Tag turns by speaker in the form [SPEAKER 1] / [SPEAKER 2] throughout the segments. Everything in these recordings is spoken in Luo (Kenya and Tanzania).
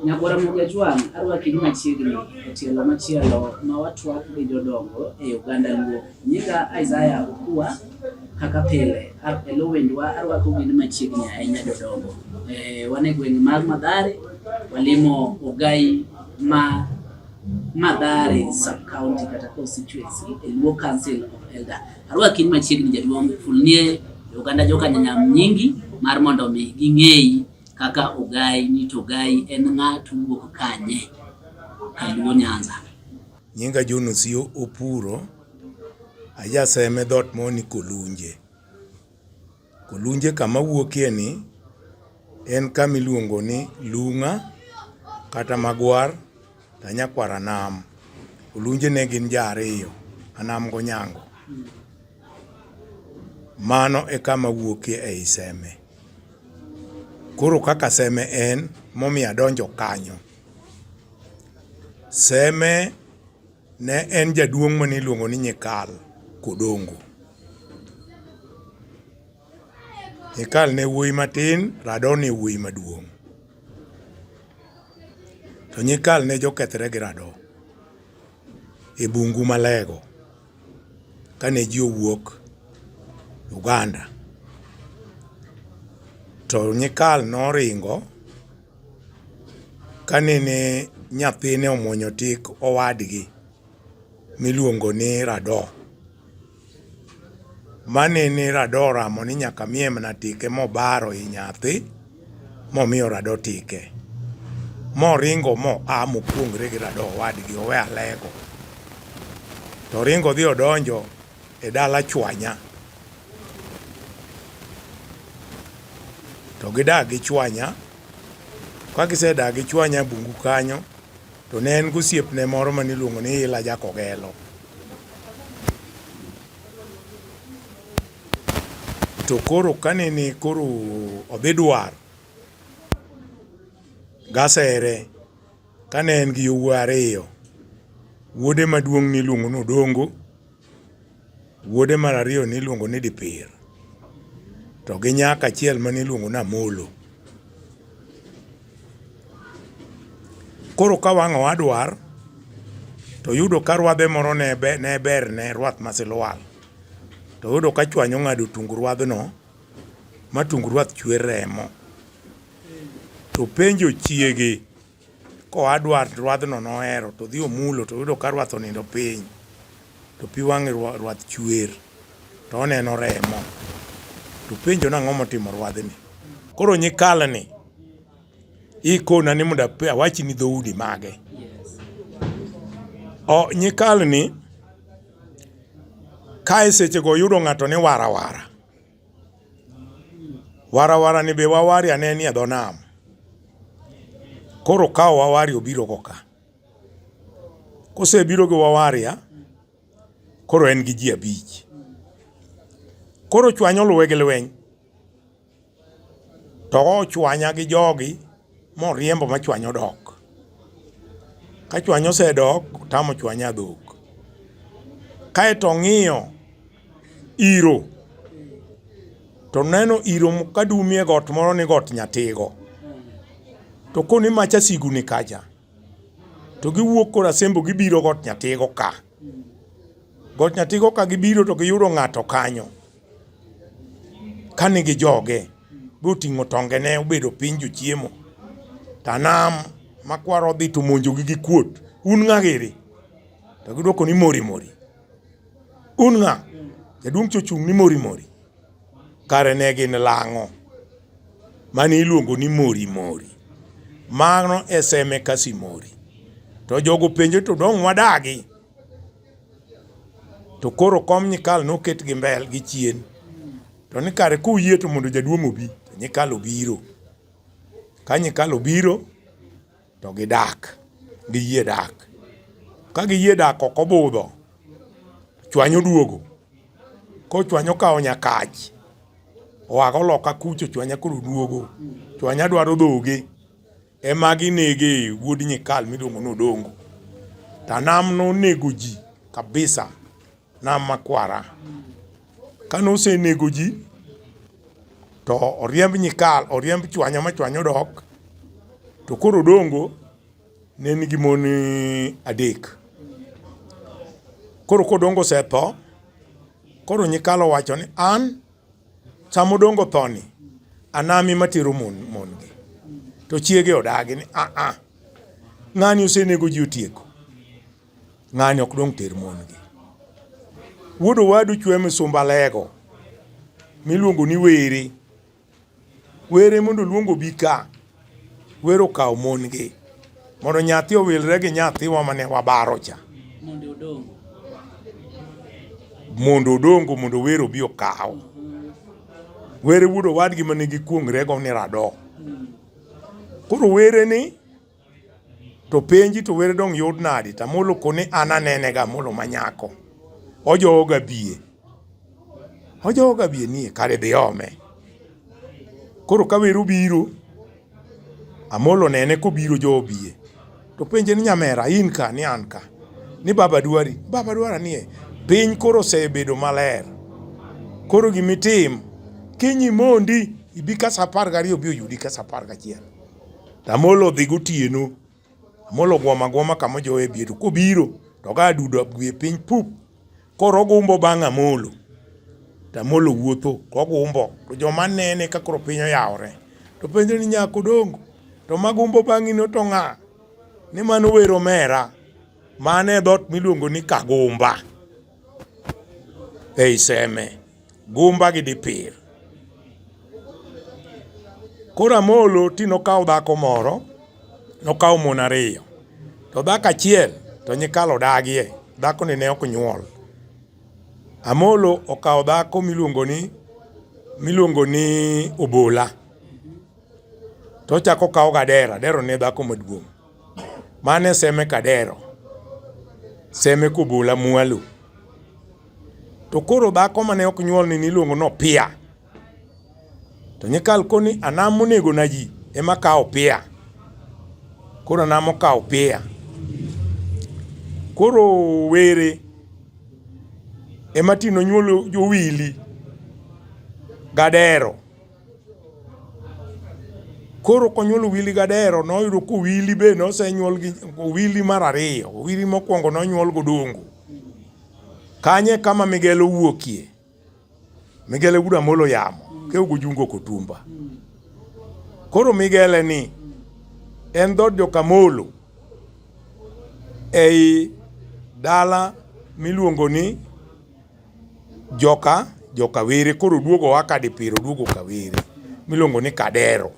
[SPEAKER 1] Nyagwara Mogajwang' arwaki machiegni e tielo machielo ma watwak gi jodongo e oganda Luo. Nyinga Isaiah Okua kaka pile e lo wendwa arwako gini machiegni ahinya jodongo. E, wan e gweng' mar Madhare, walimo Ogai ma Madhare sub county kata constituency e Luo Council of Elder. Arwaki machiegni jaduong' fulnie e oganda joka nyanyam nyingi mar mondo mi ging'eyi Kaka ogai ni to ogai en ng'a to owuok kanye? Kaluo Nyanza. Nyinga John
[SPEAKER 2] Osio Opuro, ajaseme dhot moni Kolunje. Kolunje kama wuokie ni en kama iluongo ni Lung'a kata Magwar to anyakwar Anam. Olunje ne gin ja ariyo, Anam g'Onyango. Mano e kama wuokie ei Seme. Koro kaka seme en momiyo adonjo kanyo. Seme ne en jaduong' mane iluongo ni Nyikal Kodongo. Nyikal ne wuoyi matin, Rado ne wuoyi maduong'. To Nyikal ne jokethre gi Rado. e bungu Malego kane ji owuok Uganda. To Nyikal noringo kanene nyathine omwonyo tik owadgi miluongo ni Rado. Mani ni rado ramo ni nyaka mie mana tike mobaro i nyathi momiyo rado tike moringo mo a mokuongre gi rado wadgi owe alego to ringo dhi odonjo e dala chwanya to gidak gi chwanya ka gisedak gi chwanya bungu kanyo to ne en gosiepne moro maniluongo ni ila jakogelo To koro kanene koro odhi dwar gasere kane en gi yowuoyi ariyo, wuode maduong' niluongo ni Odongo, wuode mar ariyo niluongo ni Dipir to gi nyako achiel mane iluongo ni Amolo. Koro ka wang' owadwar to yudo ka rwadhe moro ne berne rwath masilwal to yudo ka chwany ong'ado tung rwadhno ma tung rwath chwer remo to penjo chiege koa dwar rwadhno nohero to dhi omulo to yudo ka rwath onindo piny to pi wang'e rwath chwer to oneno remo to penjo nang'o motimo rwadhni koro nyikalni ikona ni mondo awachni dhoudi mage. O, nyikalni ka e sechego yudo ng'ato ni warawara warawara ni be wawari ane ni e dho nam koro kawo wawari obiro go ka kosebiro gi wawaria koro en gi ji abich koro chwanyo luwe gi lweny To ochwanya gi jogi moriembo machwanyo dok. Ka chwanyo osedok, tamo chwanya dhok. Kaeto ong'iyo iro, to neno iro kadumie got moro ni got Nyatigo. To koni macha sigu ni kacha, to giwuok kor Asembo gibiro got Nyatigo ka. Got Nyatigo ka gibiro to giyudo ng'ato kanyo. kani gi joge boting'o tongene obedo piny jochiemo tanam makwaro odhi to monjogi gi kuot un ng'a giri to gidwoko ni mori mori un ng'a jaduong' chochung' ni mori mori kare ne gin lang'o mane iluongo ni mori mori mano eseme kasi mori to jogo penjo to dong' wadagi to koro kom nyikal noket gi mbel gi chien to ni kare kuyie to mondo jaduong' obi nyikal obiro ka nyikal obiro to gidak giyie dak ka giyie dak ok obudho chwanyo duogo kochwanyo kawo nyakach oago loka kucho chwanya koro duogo chwanya dwaro dhoge Ema ginege wuod Nyikal miluongo ni Odongo. Tanam nonego ji kabisa nam makwara. Kane osenego ji to oriemb Nyikal, oriemb Chwanya ma Chwanya odok. To koro Odongo ne nigi mon eh, adek. Koro kodongo osetho, koro Nyikal owacho ni an Sama odongo thoni, anami matero mon mongi. To chiege odagi ni a ah, a ah, ng'ani osenego ji otieko. Ng'ani ok dong' ter mongi. Wuod owadu chwe misumba lego miluongo ni were. Were mondo oluong obi ka. Were okaw mon gi. Mondo nyathi owilre gi nyathiwa mane wabaro cha. Mondo odong. Mondo odongo mondo were obi okaw. Were wuod owadgi mane gikuong'rego ni rado. Koro were ni. to penji to were dong yud nadi to amolo koni an anene ga amolo manyako ojowo ga biye ojowo ga biye nie kare dhi ome koro ka wero biro amolo nene kobiro jowo biye to penje ni nyamera in ka ni an ka ni baba dwari baba dwara nie piny koro osebedo maler koro gimitim kinyi mondi ibi kasa apar gariyo bi oyudi kasa apar gachiel Amolo odhi gotieno. Amolo gwama gwama kama jowe bie to kobiro to ga dudo abwie piny pup. Koro ogumbo bang' Amolo. To Amolo wuotho to ogumbo to joma nene ka koro piny oyawore. To penjo ni nyako dongo to magumbo bang'i no to ng'a? Ni mano wero mera. Mane dhot miluongo ni Kagumba. ei seme gumba gi dipir. Koro Amolo ti nokawo dhako moro, nokawo mon ariyo, to dhako achiel to nyikal odagie, dhakoni ne ok nyuol. Amolo okawo dhako miluongo ni miluongo ni Obola, to ochako okawo Gadera, Gadera ne dhako maduong'. Mane seme kadero, seme kubula mwalu. To koro dhako mane ok nyuol ni niluongo no pia. To nyikal koni anam monego na ji ema kawo pia. Koro anam okawo pia. Koro were ema tino nyuolo jowili gadero. Koro konyuolo wili gadero noyudo ko wili be nosenyuol gi wili mar ariyo, wili mokwongo nonyuol godongo. Kanye kama Migelo wuokie. Migele guda molo yamo ke ugujungo kotumba. Koro Migele ni en dhood Jokamolo ei dala miluongo ni joka jokawere koro duogo wa kadipiro duogo kawere miluongo ni kadero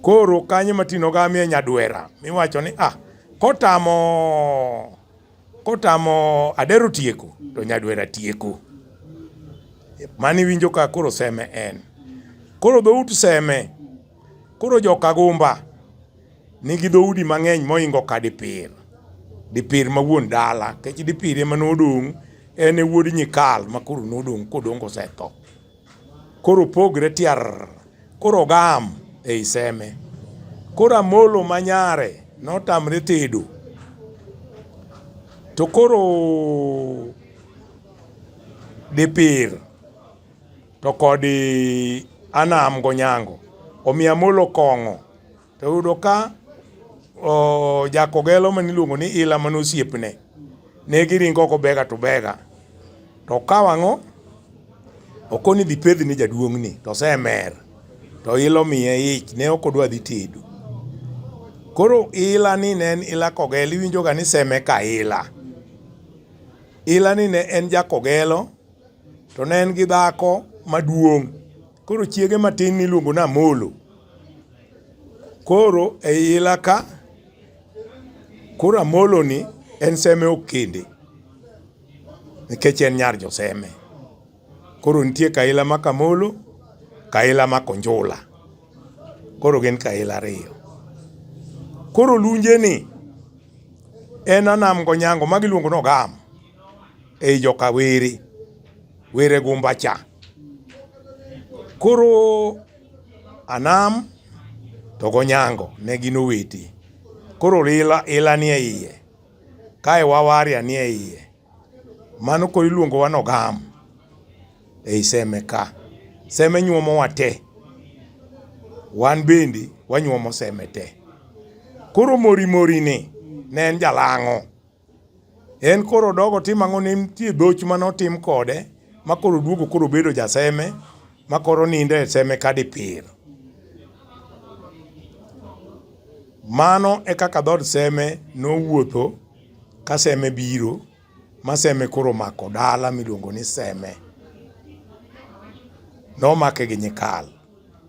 [SPEAKER 2] koro kanyo matino gamie nyadwera miwacho ni ah kotamo kotamo adero tieko to nyadwera tieko mani winjo ka koro seme en koro dhout seme koro jokagumba nigi dhoudi mang'eny moingo ka dipir dipir ma wuon dala kech dipir ema nodong' en e wuod nyikal ma koro nodong' kodong' kosetho koro pogre tiar koro gam e iseme koro amolo ma nyare notamre tedo to koro dipir to kodi anam gonyango omiyo amolo kong'o To yudo ka o, jakogelo ma niluongo ni Ila mane osiepne ne giringo oko bega to bega to okawo ang'o okoni dhi pedhi ni jaduong'ni to osemer to ila omiye ich ne ok odwa dhi tedo koro ila ni ne en ila kogelo iwinjoga ni seme ka ila ila ni ne en jakogelo to ne en gi dhako maduong' Koro chiege matin niluongo ni Amolo. Koro e ila ka, koro Amolo ni en seme ok kende nikech en nyar joseme. Koro nitie kaila ma Kamolo, kaila ma Konjula. Koro gin kaila ariyo. Koro lunje ni en Anam Gonyango ma giluongo ni Ogam. ei joka were were gumba cha. Koro Anam to gonyango ne gin oweti. Koro ila ila nie iye kae wawaria nie iye mano koro iluongo wa nogam ei seme ka seme nyuomo wa te wan bende wanyuomo seme te koro mori mori ni ne en jalang'o En koro odogo tim ang'o ne nitie dhoch mane otim kode ma koro oduogo koro obedo jaseme ma koro nindo e seme kadipir. Mano e kaka dhood seme nowuotho ka seme biro ma seme koro omako dala miluongo ni seme. Nomake gi nyikal.